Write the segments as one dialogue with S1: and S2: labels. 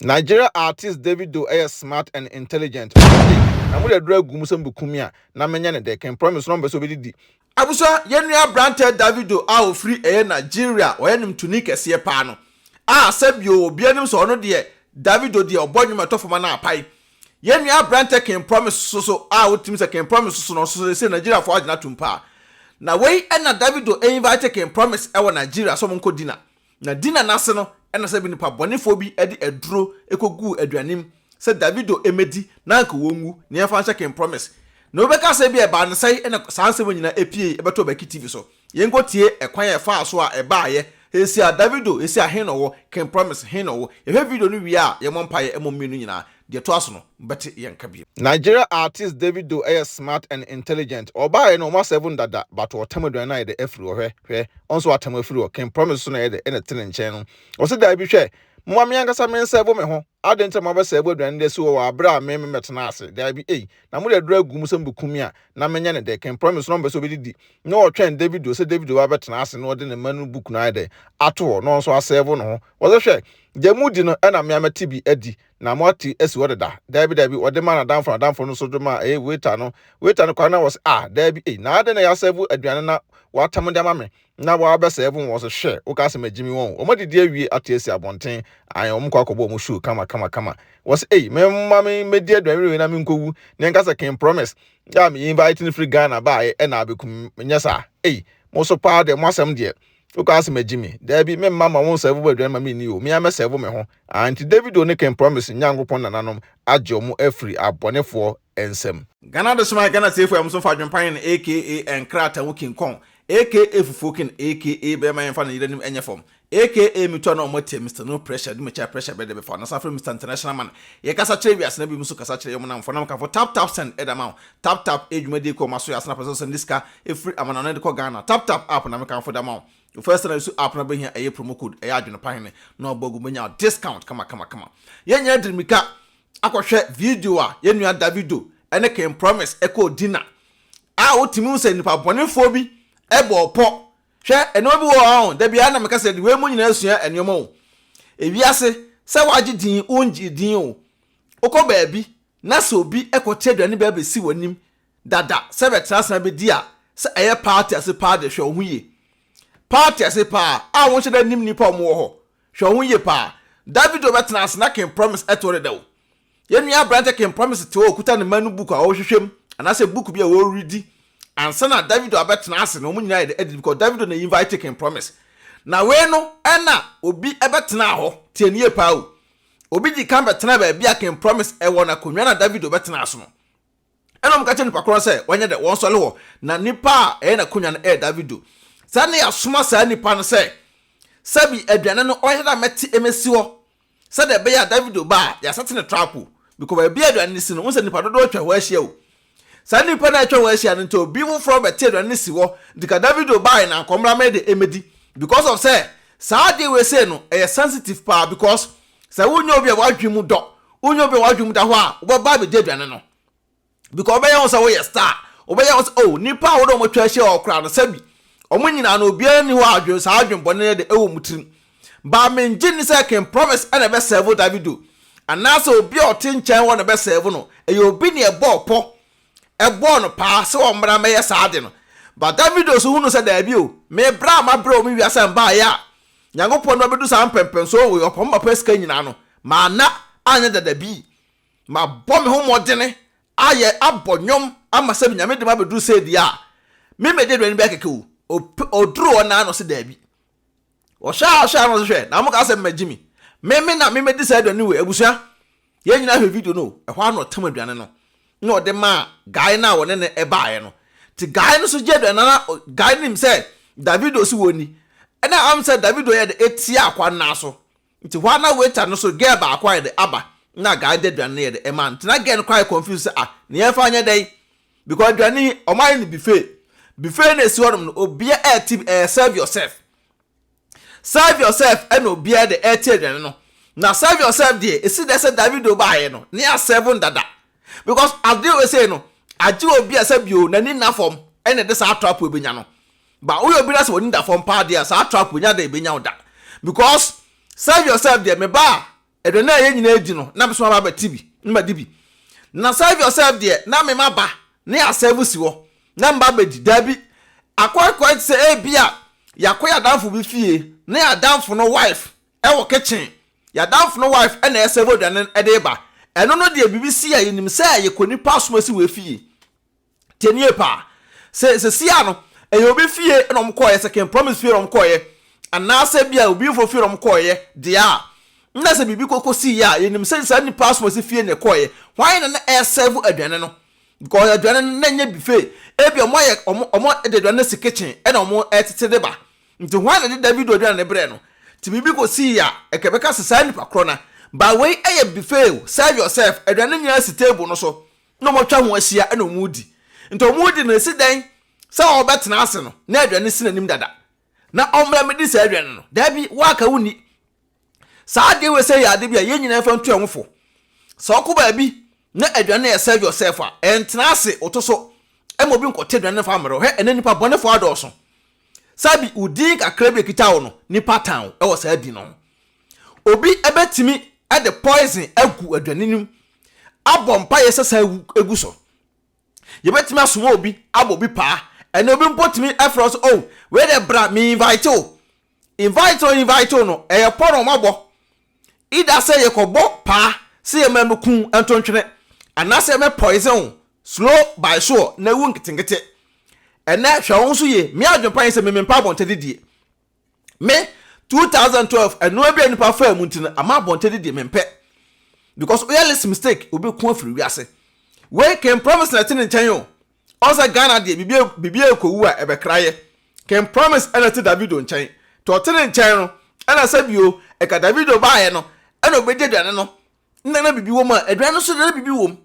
S1: Nigeria artist Davido yɛ smart and intelligent ɔno de na mo de aduru agu mu sɛ mobeku me a na menyɛ ne dɛ can promise na ɔmpɛ sɛ obedidi. Abusua, yɛn nua
S2: aberanteɛ Davido a ɔfiri ɛyɛ Nigeria a ɔyɛ nwomtoni kɛseɛ paa no a sɛ bio obiara nim sɛ ɔno deɛ Davido deɛ ɔbɔ nwom a ɛtɔ fam anaa apae. Yɛn nua aberanteɛ King Promise nso so a wotimi sɛ King Promise nso so no ɔno nso so seesei Nigeriafoɔ agye no atom paa. Na wei na Davido invite King Promise wɔ Nigeria sɛ ɔmo nkɔ dinner. Na Dina no ase no na sɛ bi nnipa bɔnefoɔ bi de aduro kɔguu aduane mu sɛ Davido mmɛdi na anka wɔnwu na yɛmfa nhyɛ King Promise. Na obi bɛka sɛ ebia ɛbaa no sɛn na saa nsɛm yi nyinaa pueeɛ bɛtoo Baki TV so. Yɛnkɔtie ɛkwan a ɛfaa so a ɛbaeɛ. Seesei a Davido, seesei a he na ɔwɔ? King Promise, he na ɔwɔ? Yɛhwɛ video no wie a, yɛmmɔ mpaeɛ mmɔ mmienu nyinaa. Deɛ ɛtoa so no bɛte yɛn nka bio. Nigeria artist
S1: Davido yɛ smart and intelligent ɔbaa yɛ no ɔma seven dada but ɔtam aduane no ayɛ dɛ afiri hɔ hwɛ hwɛ ɔno so watam afiri hɔ king promise so na ɛyɛ dɛ na ɛte ne nkyɛn no ɔse daabi hwɛ moma me ankasa me nsɛvo me ho adɛn nti na mo abɛsɛvo aduane de asi hɔ wɔ abere a me me mɛtena ase daabi ei na mode aduro agu mu sɛ mobɛku me a na menyɛ ne dɛ king promise so na ɔmpɛ sɛ ɔbɛdidi na ɔtwɛn Davido sɛ Davido ba bɛtena ase na ɔde ne mma no book no ayɛ dɛ ato hɔ na ɔno so asɛvo ne ho ɔse hwɛ deɛ modi no ɛna me a mɛte bi adi na moate asi hɔ deda daabi daabi wɔde ma nadamfo nadamfo no nso de ma ɛyɛ waiter no waiter no kwan na wɔ sɛ ah daabi ei na adɛn na yɛasɛvo aduane na wɔatam de ama me na wɔabɛsɛvo wɔn sɛ hwɛ woka asɛm agyi me wɔn wɔn adidi awie ate asi abɔnten ayɛ wɔn kɔ akɔbɔ wɔn show kama kama kama wɔ sɛ ei mɛma me mɛdi aduane wei na menkɔwu na ɛnka sɛ ken promise yɛ a me invite no firi Ghana baeɛ ɛna abɛkum nyɛ saa ei mo so paa deɛ mo asɛm deɛ wokɔ asɛm agyi me daabi memma ma wo nsɛvo bɔ aduane ma menni o mea mɛsɛvo me ho ah nti david o ne ken promise nyankopɔn nananom agye ɔmo afiri abɔnefoɔ nsam Ghana de soma Ghana
S2: tiefo a ɛmo nso fa adwempa yɛn aka nkrataa mu king kong aka fufuo ken aka bɛɛma yɛnfa no yere nim ɛnyɛ fam aka metu a na ɔmo atia Mister no pressure de mekyɛ a pressure bɛ de bɛfa no san frɛ Mister international man yɛ kasa kyerɛ wiase na binom nso kasa kyerɛ yɛ ɔmo namfo na mekafo tap tap send ɛda ma wo Tap Tap yɛ dwumadie kɔ ɔma so yɛ asana pɛ sɛ ɔsan de sika firi amanamane de kɔ Ghana Tap Tap app na me kanfo de ama wo Wo first na isu app na wobɛhia ɛyɛ promo code ɛyɛ adwene pa hene na ɔbɔ agu wobɛnya discount kama kama kama Yɛn nyinaa de mirika akɔ hwɛ video a yɛn nua Davido ne King Promise kɔɔ dinner a wo tumi hu sɛ nipa bɔnefoɔ bi bɔɔ pɔ Hwɛ nneɛma bi wɔ hɔ a da biara na meka sɛ de wei mu nyinaa sua nneɛma o Ewiase sɛ wagye din wo ngye din o Wokɔ baabi Na sɛ obi kɔte aduane bi abɛsi w'anim dada sɛ bɛtra ase na bɛdi a, sɛ ɛyɛ paate ase paa de, hwɛ wo ho yie. Paate ase paa a wonhyɛ da nnim nnipa a wɔwɔ hɔ, hwɛ wo ho yie paa. Davido bɛtena ase na King Promise te hɔ dada o. Yɛn nua aberante King Promise te hɔ a ɔkuta ne mma no book a ɔrehwehwɛ mu anaasɛ book bi a wɔredi ansa na Davido abɛtena ase na wɔn nyinaa ayɛ dɛ adidi because Davido na invite King Promise. Na wei no na obi bɛtenaa hɔ, tie no yie paa o. Obi dii kan bɛtenaa baabi a King Promise wɔ no akonnwa no a Davido bɛtenaa so no. Ɛnna wɔka kyerɛɛ nnipa korɔ no sɛ wɔnyɛ dɛ, wɔnsɔre hɔ, na nipa a ɛyɛ n'akonnwa no yɛ Davido. Saa nna yi asoma saa nipa no sɛ, Sɛbi aduane no ɔyɛ dɛ a mɛte mɛsi hɔ sɛdeɛ ɛbɛyɛ a Davido ba a, yɛasɛte no trap o. Mekɔ baabi a aduane no si no, wohu sɛ nnipa dodoɔ atwa hɔ ahyia o. Saa nnipa no a atwa wɔn ahyia no nti obi foforɔ bɛte aduane no si hɔ nti ka Davido bae na nkɔmmra me de ɛmɛdi because of sɛ saa adeɛ wei sei no ɛyɛ sensitive paa because sɛ wonyɛ obi a w'adwene mu dɔ wonyɛ obi a w'adwene mu da hɔ a wobɛba abɛdi aduane no because ɔbɛyɛ ho sɛ woyɛ star ɔbɛyɛ ho sɛ oh nnipa a wode wɔn atwa ahyia hɔ koraa no sɛbi wɔn nyinaa no obiara nni hɔ a adwene saa adwene bɔne no de ɛwɔ wɔn tirim But me ngye nni sɛ King Promise na ɛbɛ serve Davido anaasɛ obi a ɔte nkyɛn hɔ na ɛbɛ serve no, ɛyɛ obi na ɛbɔɔ pɔ, ɛbɔɔ no paa sɛ ɔmmra mmɛyɛ saa ade no. But Davido nso hunuu sɛ daabi o, me bra a mabrɛ wɔ me wiase a mbaeɛ a Nyankopɔn de mabɛdu saa mpɛmpɛnsoɔ wei, ɔpɛ ɔma mapɛ sika nyinaa no, manna anyɛ dada bi. Mabɔ me ho mmɔdene ayɛ, abɔ nnwom ama sɛ Nyame de mabɛduru sei deɛ a, me mɛdi aduane bi akɛkɛ o, ɔduru hɔ no ara na ɔse daabi. Wɔhwɛ a hwɛ a na ɔse hwɛ na ɔmo ka sɛ mma Jimmy me me na me medi saa aduane wei abusua yɛn nyinaa hwɛ video no o ɛhɔ ara na ɔtam aduane no na ɔde maa guy no a wɔne no ɛbaeɛ no nti guy no so gye aduane no na guy no nim sɛ Davido se wɔnni ɛna am sɛ Davido yɛ dɛ etia akwa no nan so Nti hɔ a na waiter no so girl baako ayɛ dɛ aba na guy no de aduane no yɛ dɛ ɛma no nti na girl no koraa yɛ confused sɛ ah nea yɛmfa nyɛ dɛn because aduane yi wɔn ayɛ no buffet buffet na esi hɔnom no obia ɛɛte bi ɛɛ serve yourself serve yourself ɛna obia de ɛɛte aduane no na serve yourself deɛ esi dɛ sɛ Davido baayɛ no ne yɛ serve no dada because ade wei sei no agye obi a sɛ bio n'ani nna fam ɛna ɛde saa ato apo ebenya no But woyɛ obi na sɛ w'ani da fam paa deɛ a, saa trap wei nyɛ adeɛ a ɛbɛnya wo da. Because serve yourself deɛ, me ba a, aduane a yɛn nyinaa redi no, na me nso maba abɛte bi na madi bi. Na serve yourself deɛ, na me maba na yɛasɛɛvo si hɔ na meba abɛdi. Daabi, akɔakɔa te sɛ ebia yɛakɔ yɛn adamfo bi fie na yɛn adamfo no wife wɔ kitchen, yɛn adamfo no wife na ɛresɛɛvo aduane de reba. Ɛno no deɛ, biribi si a, yɛnim sɛ yɛkɔ nipa som asi wɔ efie. Tie nie paa, sɛ sesia no ɛyɛ obi fie na wɔn kɔɔeɛ, sɛ King Promise fie na wɔn kɔɔeɛ, anaasɛ bi a obi nfoɔ fie na wɔn kɔɔeɛ deɛ a, na sɛ biribi kɔkɔ siiɛ a, yɛnim sɛ saa nipa asomasi fie na ɛkɔɔeɛ. Hwan na na ɛresɛɛvo aduane no? Because aduane no na ɛnyɛ buffet, ebi wɔn ayɛ wɔn wɔn de aduane no si kitchen ɛna wɔn ɛretete de ba. Nti hwan na ɛde Davido aduane no brɛɛ no? Nti biribi kɔ sii a, ɛka ɛbɛka sɛ saa nipa korɔ no, but wei ɛyɛ buffet o, serve yourself, aduane no nyinaa si table no so. na wɔatwa ho ahyia na wɔredi. Nti wɔredi no, ɛsi dɛn sɛ ɔrebɛtena ase no na aduane si n'anim dada, na ɔmmra mmɛdi saa aduane no? Daabi, woaka, wonni. Saa adeɛ wei sɛ yɛ adeɛ bi a yɛn nyinaa mfa ntu yɛn ho fo. Sɛ wokɔ baabi na aduane no yɛ serve yourself a, ɛntena ase, woto so ma obi nkɔte aduane no mfa mmrɛ wo. Hwɛ, ɛnnɛ nnipa bɔnefoɔ adɔɔso. Sɛ bi, wo din kakra bi a ɛkita wo no, nnipa tan wo wɔ saa din no ho. Obi bɛtumi de poison agu aduane no mu, abɔ mpaeɛ sɛ saa gu so. Yɛbɛtumi asoma obi abɔ obi paa. Ɛnna obi mpo tumi frɛ wo sɛ, oh, wei dɛ bra, me invite wo. Invite o invite wo no, ɛyɛ pɔ na wɔabɔ. Ida sɛ yɛkɔbɔ paa sɛ yɛma me kun ntontwene, anaasɛ yɛmɛ poison wo slow by sure na wu nketenkete. Ɛnɛ hwɛ wo nso yie, me adwene pa ne sɛ me mempɛ abɔntɛdidie. me two thousand twelve ɛnoa bi a nipa faa mu nti no ama abɔnten de deɛ mempɛ because woyɛ less mistake obi ko afiri wiase wei ken promise na ɛte ne nkyɛn o ɔsɛ ghana deɛ biribi biribi ekowu a ɛbɛkra yɛ ken promise ɛna te davido nkyɛn tɔ ɔte ne nkyɛn no ɛna sɛ bio ɛka davido baayɛ no ɛna obɛdi aduane no na na biribi wɔ mu a aduane no so na biribi wɔ mu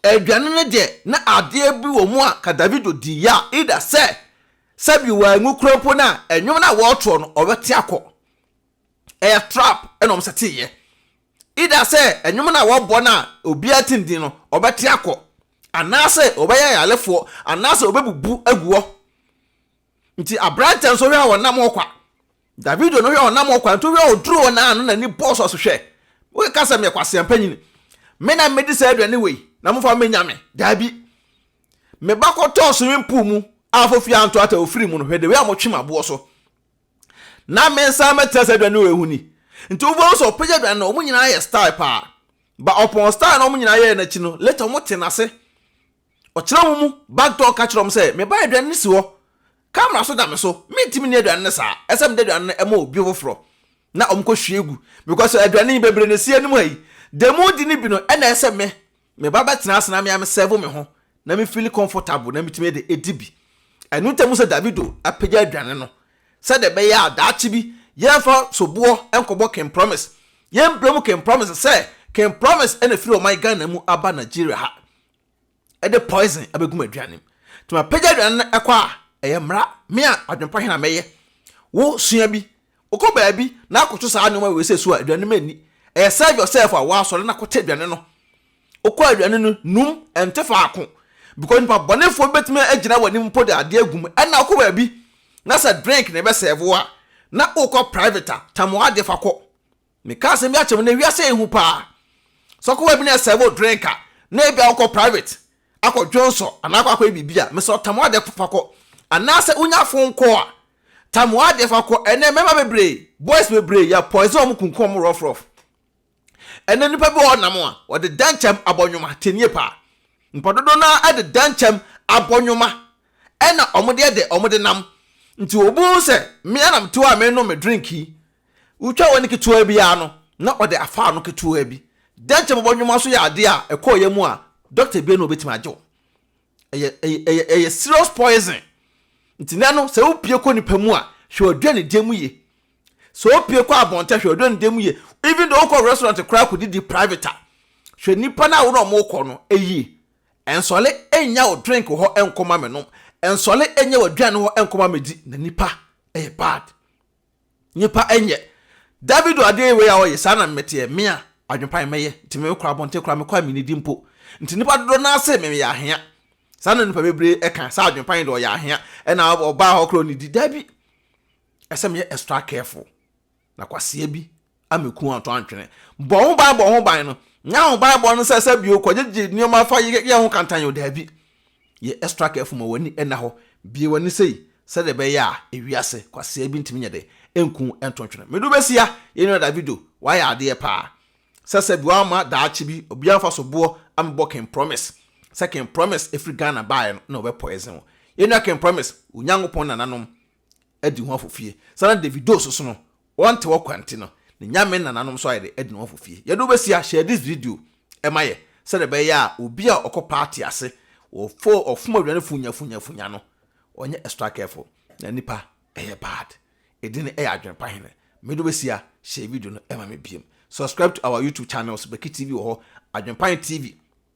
S2: Aduane no deɛ, na adeɛ bi wɔ mu a ka Davido dii yɛ a, either sɛ sɛbi wanwu koraa mpo no a, nnwom no a wɔɔtoɔ no, ɔbɛte akɔ. Ɛyɛ trap ɛna ɔmo sɛtee yɛ. Either sɛ nnwom no a wɔɔbɔ no a obiara te ndin no, ɔbɛte akɔ. Anaasɛ ɔbɛyɛ ayarefoɔ, anaasɛ ɔbɛbubu agu hɔ. Nti aberanteɛ no so hwɛ a ɔnam hɔ kwa. Davido no hwɛ ɔnam ɔkwan to hwɛ ɔduru hɔ naa no nani bɔɔ so ɔse hwɛ wokeka sɛ meyɛ kwasea panyini me na medi saa aduane wei na mofa me menya me daabi me ba kɔtɔɔ swimming pool mu a fo fie anto ata ofiri mu no hwɛ the way a motwe maboɔ so na me nsa mɛtena saa aduane wei ho ni nti wofo sɛ ɔpɛgya aduane no wɔn nyinaa yɛ style paa ba ɔpɔn style na wɔn nyinaa yɛɛ n'akyi no later wɔn te n'ase Ɔkyerɛɛ wɔn mu bagutoɔ ka kyerɛɛ wɔn sɛ, Meba aduane no si hɔ. Camera nso da me so. Mentumi nni aduane no saa. Ɛsɛ sɛ mede aduane no ma obi foforɔ na wɔkɔhwie gu because aduane yi bebree na ɛsi anim ha yi. Deɛ moredi no bi no na ɛsɛ sɛ me, meba bɛtena ase na me ara me serve me ho na me feel comfortable na metumi de adi bi. Ɛno nti na mohu sɛ Davido apagya aduane no sɛdeɛ ɛbɛyɛ a daakye bi yɛmfa soboɔ nkɔbɔ King Promise. Yɛmbrɛ mu King Promise sɛ King Promise na ɛfiri ɔman Ghana mu aba Nigeria ha. de poison abegu m'aduane mu nti mapagya aduane no ɛkɔ a ɛyɛ mmara me a adwempa hena mɛyɛ wo sua bi wokɔ baabi na akɔto saa nneɛma wei sɛ su a aduane ma ni ɛyɛ serve yourself a wɔasɔre na kɔte aduane no wokɔ aduane no num ɛnte faako because nipa bɔnefoɔ bɛtumi agyina w'anim mpo de adeɛ agu mu ɛna wokɔ baabi na sɛ drink na ɛbɛ serve wo a na wokɔ private a tam w'adeɛ fa kɔ Meka asɛm bi akyerɛ mo, nnɛ wiase yɛ hu paa. Sɛ ɔkɔbaa bi na ɛsɛ wo drink a, na ebia wokɔ private akɔ dwonsɔ anaa akɔ akɔyɛ biribi a, mesrɛ tam w'adeɛ fa kɔ. Anaasɛ wonya phone call a, tam w'adeɛ fa kɔ. Ɛnnɛ mmarima bebree, boys bebree, yɛ poison wɔn, kunkum wɔn rough rough. Ɛnnɛ nnipa bi wɔ hɔ nam a, wɔde dɛnkyɛm abɔ nnwoma, tie nie paa. Nnipa dodoɔ no ara de dɛnkyɛm abɔ nnwoma, ɛna wɔde yɛ dɛ, wɔde nam. Nti obi hu sɛ me ara na mete hɔ a merenom me drink yi, Wotwa w'ani ketewaa bi ara no, na ɔde afa ano ketewaa bi. Dɛnkyɛ bobɔ nnwoma nso yɛ adeɛ a ɛkɔ wo yam mu a, dɔkta bia na ɔbɛtumi agye wo. Ɛyɛ, ɛyɛ, ɛyɛ, ɛyɛ serious poison. Nti nnɛ no, sɛ wopue kɔ nipa mu a, hwɛ w'aduanedie mu yie. Sɛ wopue kɔ abɔnten a, hwɛ w'aduanedie mu yie. Even though wokɔ restaurant koraa kɔdidi private a, hwɛ nipa no a wo ne ɔmo kɔ no yie. Ɛnsɔle nnya wo drink hɔ nkɔma me nom. Ɛnsɔle nnya w'aduane hɔ nkɔma me di. Na nipa, ɛyɛ bad. Nnipa nyɛ. David o adeɛ wei a ɔyɛ saa na meteɛ me a adwepan mɛyɛ nti me kɔ abɔnten koraa me kɔ a menidi mpo nti nnipa dodoɔ no ara se me meyɛ ahea saa na nnipa bebree ka sɛ adwepan deɛ ɔyɛ ahea ɛna ɔbaa hɔ koraa ɔnidi daabi ɛsɛ meyɛ extra careful na kwasea bi ameku wɔn atɔ antwene. Bɔ wo ban bɔ ho ban no. Nyɛ ahobanbɔ no sɛ sɛ bio kɔgyegye nneɛma fa yɛ yɛ ho kantan o daabi. Yɛ extra careful ma w'ani nna hɔ. Bue w'ani sei sɛdeɛ ɛbɛyɛ a ewiase kwasea bi ntumi nyɛ dɛ nku wo nto ntwene. Medu bɛsia yɛn nua Davido wayɛ adeɛ paa. Sɛ sɛ bi wamma daakye bi obiara mfa so boɔ ammɛbɔ King Promise. Sɛ King Promise ɛfiri Ghana baeɛ no na ɔbɛ poison wo. Yɛn nua King Promise wo Nyankopɔn nananom adi ho afofie. Saa na Davido nso so no, wɔnte hɔ kwa nti no, ne Nyame nananom nso ayɛ dɛ adi ne ho afofie. Yɛde wo bɛsia, share this video ma yɛ sɛdeɛ ɛbɛyɛ a obi a ɔkɔ party ase, ɔfo ɔfom aduane funya funya funya no, ɔnyɛ extra careful na nipa ɛyɛ bad. Edin no ɛyɛ adwene pa hene. Mede wo bɛsia, share video no ma me biom. Subscribe to our YouTube channels, Beki TV wɔ hɔ, Adwene pa he TV.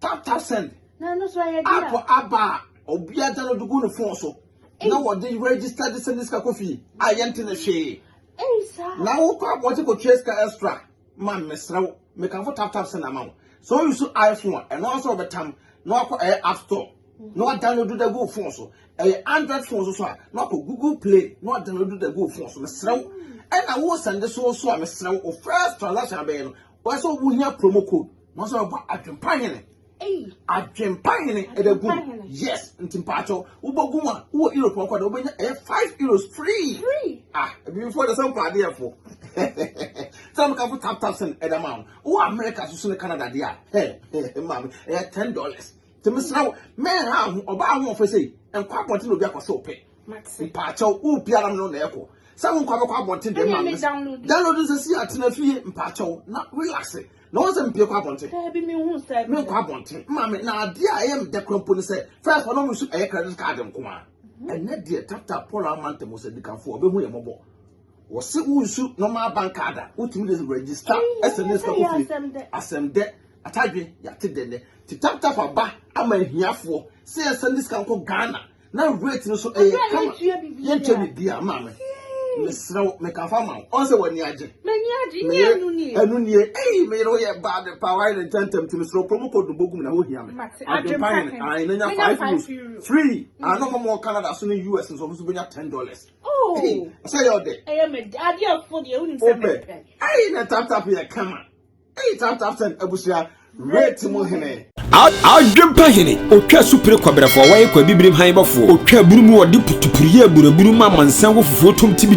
S1: tata
S3: send
S1: app
S3: aba a
S1: obiara gya no de gu ne fon so na wɔde register de send sika kɔ fie a yɛnte ne hwee na
S3: wokɔ abɔnten
S1: kɔtua sika extra ma mesrɛ wo mekamfo tap tap send ama wo sɛ woyi so iphone a ɛno asɛ wɔbɛtam na wakɔ ɛyɛ app store na wadownload da gu fon so ɛyɛ android fon so so a na wakɔ google play na wadownload da gu fon so mesrɛ wo ɛna wo send so so a mesrɛ wo first transaction abɛyɛ no Wɔyɛ sɛ wohia promo code. Wɔn sɛ wɔbɔ adwempa hene. Adwempa hene ɛdɛ gu mu. Yes, nti mpaakyɛw wobɔ gu mu a wowɔ Europe ɔkɔ dɛ wobɛnya ɛyɛ five euros free. Ah, ebibifoɔ ɛdɛ sɛ mpɔ adeɛfoɔ. Sɛ meka fo tap tap sɛn ɛdɛ ma wɔn. Wowɔ America soso ne Canada deɛ a, hɛ hɛ maame ɛyɛ ten dollars. Nti mesrɛ wo, mɛnha ho ɔbaa ahoɔfɛ sei, nkɔ abɔnten na obi akɔhyɛ wo pɛ. Mate. Mpaakyɛw, wo biara no na ɛkɔ. Sɛ wo nkwa bɛkɔ abɔnten deɛ ma me. Download nsɛ si atena fie mpaakyɛw na relax. Na wɔn sɛ mpie kɔ abɔnten. Daabi mi hu sɛ.
S3: Me nkɔ abɔnten. Maa
S1: me na adeɛ a ɛyɛ me dɛ kura mpo ne sɛ fɛn kɔ na wɔn nso ɛyɛ credit card nko a. Mhm. Ɛnɛ deɛ tata Paul Amanta Musa Dikanfo ɔbɛhu yɛ mɔbɔ. Wɔsi wo nsu normal bank card a wotumi de register ɛsɛ ne sika kɔ fie. Asɛm dɛ atadwe yate dɛ nɛ. Ti tap tap aba ama ahiafoɔ sɛ yɛsɛ ne sika nkɔ Ghana. na weight no so ɛyɛ eh, kama yɛntwa biribiara maa me mesrɛ wo mekafa ma wo ɔn sɛ w'ani agye meyɛ
S3: ɛno nie ei meyere wo yɛ baa
S1: de paa wayɛ ne ntɛntɛm nti mesrɛ kuro mu kɔ dobo gum na wohia me adwempa hene ae na nya five euros free ano ma mɔ canada so ne us nso ɔmo so bɛnya ten dollars oh. sɛ
S3: yɛ ɔdɛ wopɛ ei na taptap
S1: yɛ kama Eyi tap tap ten abusua rate mu hene. Adwempa
S4: hene, otwa supire kɔbrɛfoɔ, wɔyɛ kwa bibirim han bɔfoɔ, otwa aburu mu, wɔde putupuru yɛ aburaburu ma amansan wɔ fufuo tom ti bi.